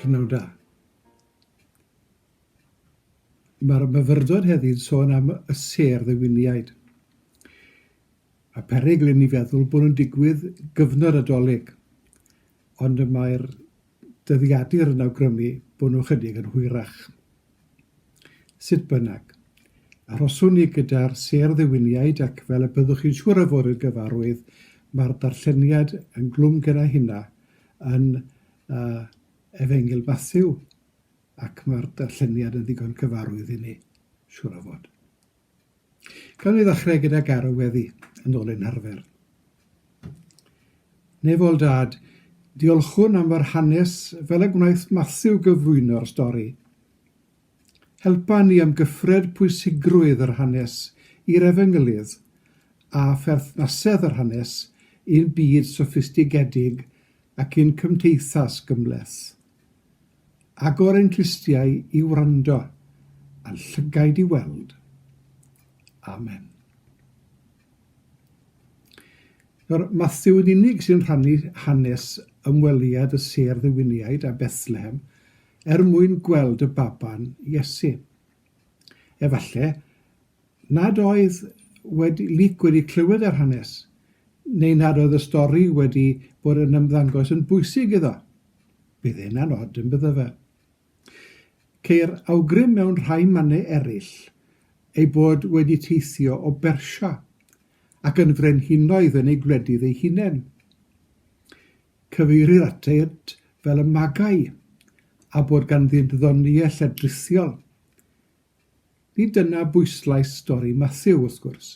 Prynhawn da. Mae'r myfyrdod heddi'n sôn am y sêr ddewiniaid. A perygl i ni feddwl bod nhw'n digwydd gyfnod adolyg, ond y mae'r dyddiadur yn awgrymu bod nhw ychydig yn hwyrach. Sut bynnag, arhoswn ni gyda'r sêr ddiwiniaid ac fel y byddwch chi'n siŵr yforydd gyfarwydd, mae'r darlleniad yn glwm genna hynna yn uh, Efengyl Matthew ac mae'r darlleniad yn ddigon cyfarwydd i ni, siŵr o fod. Cawn ni ddechrau gyda Garw Weddi, yn ôl ei narfer. Nef ol dad, diolchwn am yr hanes fel y gwnaeth Matthew gyflwyno'r stori. Helpa ni ymgyffred pwysigrwydd yr hanes i'r efengylydd a pherthnasedd yr hanes i'n byd soffistigedig ac i'n cymteithas gymhleth. Agor ein clustiau i wrando, a'n llygaid i weld. Amen. Nawr, Matthew yn unig sy'n rhannu hanes ymweliad y sêr ddiwiniaid a Bethlehem er mwyn gweld y baban Iesu. Efallai nad oedd wedi, Luc wedi clywed yr hanes, neu nad oedd y stori wedi bod yn ymddangos yn bwysig iddo. Bydd hyn yn od, yn byddo fe? Ceir awgrym mewn rhai mannau eraill ei bod wedi teithio o Bersia ac yn frenhinoedd yn ei gwledydd ei hunain. Cyfeirir atynt fel y Magai, a bod ganddynt ddoniau lledrithiol. Nid dyna bwyslais stori Mathew, wrth gwrs.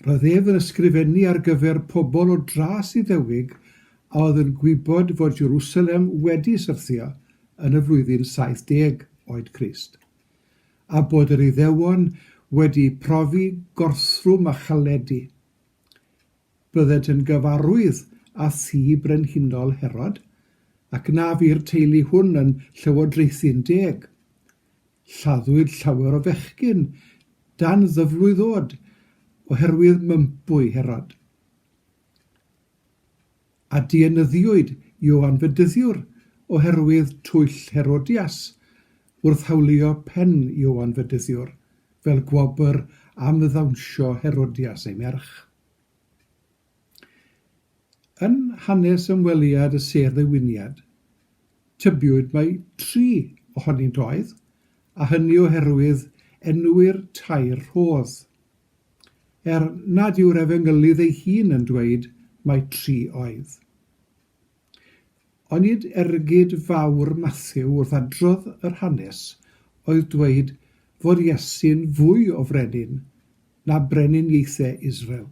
Roedd ef yn ysgrifennu ar gyfer pobl o dras Iddewig a oedd yn gwybod fod Jerusalem wedi syrthio yn y flwyddyn 70 oed Crist, a bod yr Iddewon wedi profi gorthrwm a chaledi. Bydded yn gyfarwydd â thŷ brenhinol Herod, ac na fu'r teulu hwn yn llywodraethu'n deg. Lladdwyd llawer o fechgyn dan ddyflwydd oed oherwydd mympwy Herod. a dienyddiwyd Ioan Fedyddiwr oherwydd twyll Herodias wrth hawlio pen Ioan Fedyddiwr fel gwobr am ddawnsio Herodias ei merch. Yn hanes ymweliad y sedd ddewiniad, tybiwyd mai tri ohonynt oedd, a hynny oherwydd enwi'r tair rhodd. er nad yw'r Efengylydd ei hun yn dweud mai tri oedd. Onid ergyd fawr Mathew wrth adrodd yr hanes oedd dweud fod Iesu'n fwy o frenin na breninieithe Israel,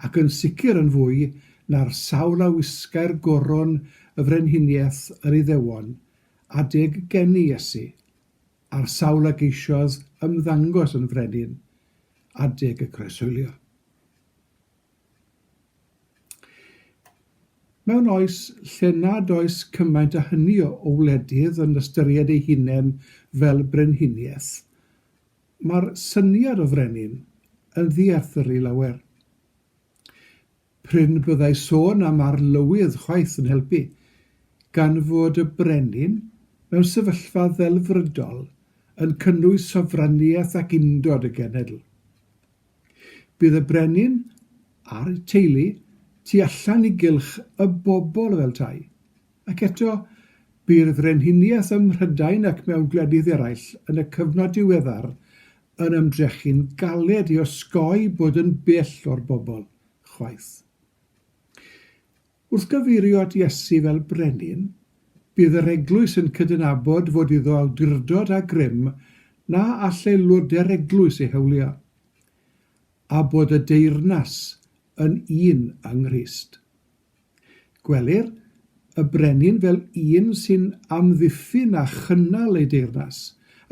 ac yn sicr yn fwy na'r sawl a wisgai'r goron y frenhiniaeth yr Iddewon adeg geni Iesu? ar sawl ag eisioes ymddangos yn frenin, adeg y croeshoelio. Mewn oes lle nad oes cymaint a hynny o wledydd yn ystyried ei hunain fel brenhiniaeth, mae'r syniad o frenin yn ddiarthur i lawer. Prin byddai sôn am arlywydd chwaith yn helpu, gan fod y brenin mewn sefyllfa ddelfrydol yn cynnwys sofraniaeth ac undod y genedl. Bydd y brenin a'r teulu tu allan i gylch y bobl fel tai, Ac eto, bu'r Frenhiniaeth ym Mhrydain ac mewn gwledydd eraill yn y cyfnod diweddar yn ymdrechu'n galed i osgoi bod yn bell o'r bobl, chwaith. Wrth gyfeirio at Iesu fel Brenin, bydd yr Eglwys yn cydnabod fod iddo awdurdod a grym na all aelodau'r Eglwys ei hawlio, a bod y deyrnas yn un yng Nghrist. Gwelir y brenin fel un sy'n amddiffyn a chynnal ei deyrnas,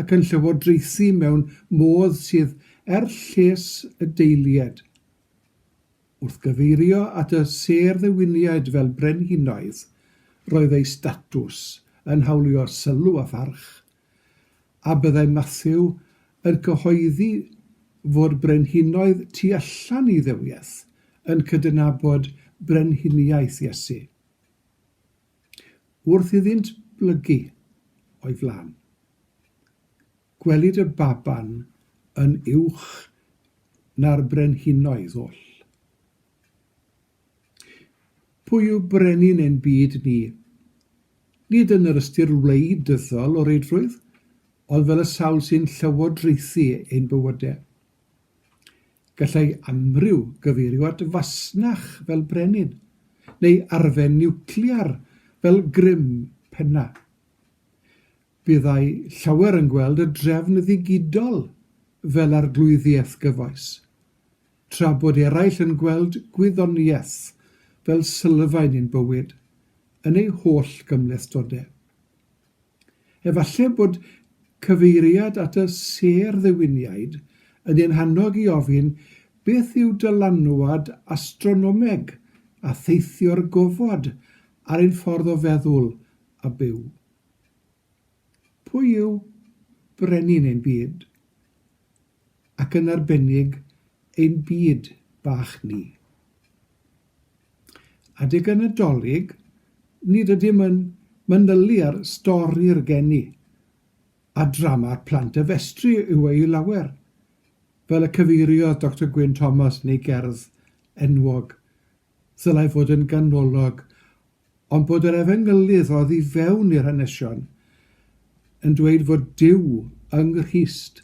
ac yn llywodraethu mewn modd sydd er lles y deilied. Wrth gyfeirio at y sêr ddewiniaid fel brenhinoedd, roedd eu statws yn hawlio sylw a pharch, a byddai Mathew yn cyhoeddi fod brenhinoedd tu allan i dduwiaeth yn cydnabod brenhiniaeth Iesu, wrth iddynt blygu o'i flaen. Gwelid y baban yn uwch na'r brenhinoedd oll. Pwy yw brenin ein byd ni? Nid yn yr ystyr wleidyddol o reidrwydd, ond fel y sawl sy'n llywodraethu ein bywydau. Gallai amryw gyfeirio at fasnach fel brenin, neu arfe niwclear fel grym penna. Byddai llawer yn gweld y drefn ddigidol fel arglwyddiaeth gyfoes. Tra bod eraill yn gweld gwyddoniaeth fel sylfaen i'n bywyd, yn ei holl gymhlethdodau. Efallai bod cyfeiriad at y sêr ddiwiniaid yn ein hannog i ofyn beth yw dylanwad astronomeg a theithio'r gofod ar ein ffordd o feddwl a byw. Pwy yw brenin ein byd, ac yn arbennig ein byd bach ni? Adeg y Nadolig, nid ydym yn manylu ar stori'r geni, a drama'r plant a festri yw ei lawer, fel y cyfeiriodd Doctor Gwyn Thomas yn ei gerdd enwog, ddylai fod yn ganolog ond bod yr efengylydd oddi fewn i'r hanesion yn dweud fod Duw yng Nghrist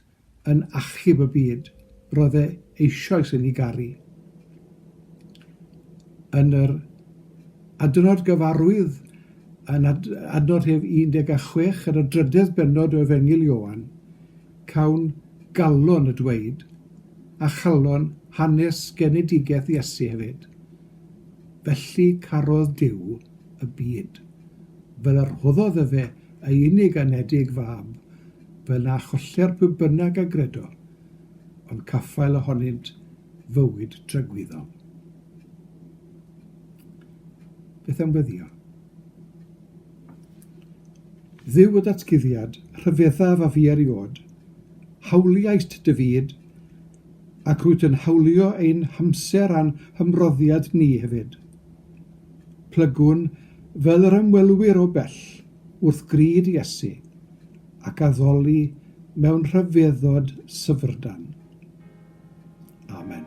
yn achub y byd, roedd e eisoes yn ei garu. Yn yr adnod gyfarwydd yn ad, adnod hef 16 yn y drydedd benod o Efengyl Ioan, cawn galon y dweud, a chalon hanes genedigaeth Iesu hefyd, Felly carodd Duw y byd, fel a rhoddodd efe ei unig anedig fab, fel na choller pwy bynnag a gredo, ond caffael ohonynt fywyd tragwyddol. Beth am weddio? Dduw y datguddiad, rhyfeddaf a fu eriod, hawliaist dy fyd, Ac rwyt yn hawlio ein hamser a'n hymroddiad ni hefyd. Plygwn fel yr ymwelwyr o bell wrth gryd Iesu ac addoli mewn rhyfeddod syfrdan. Amen.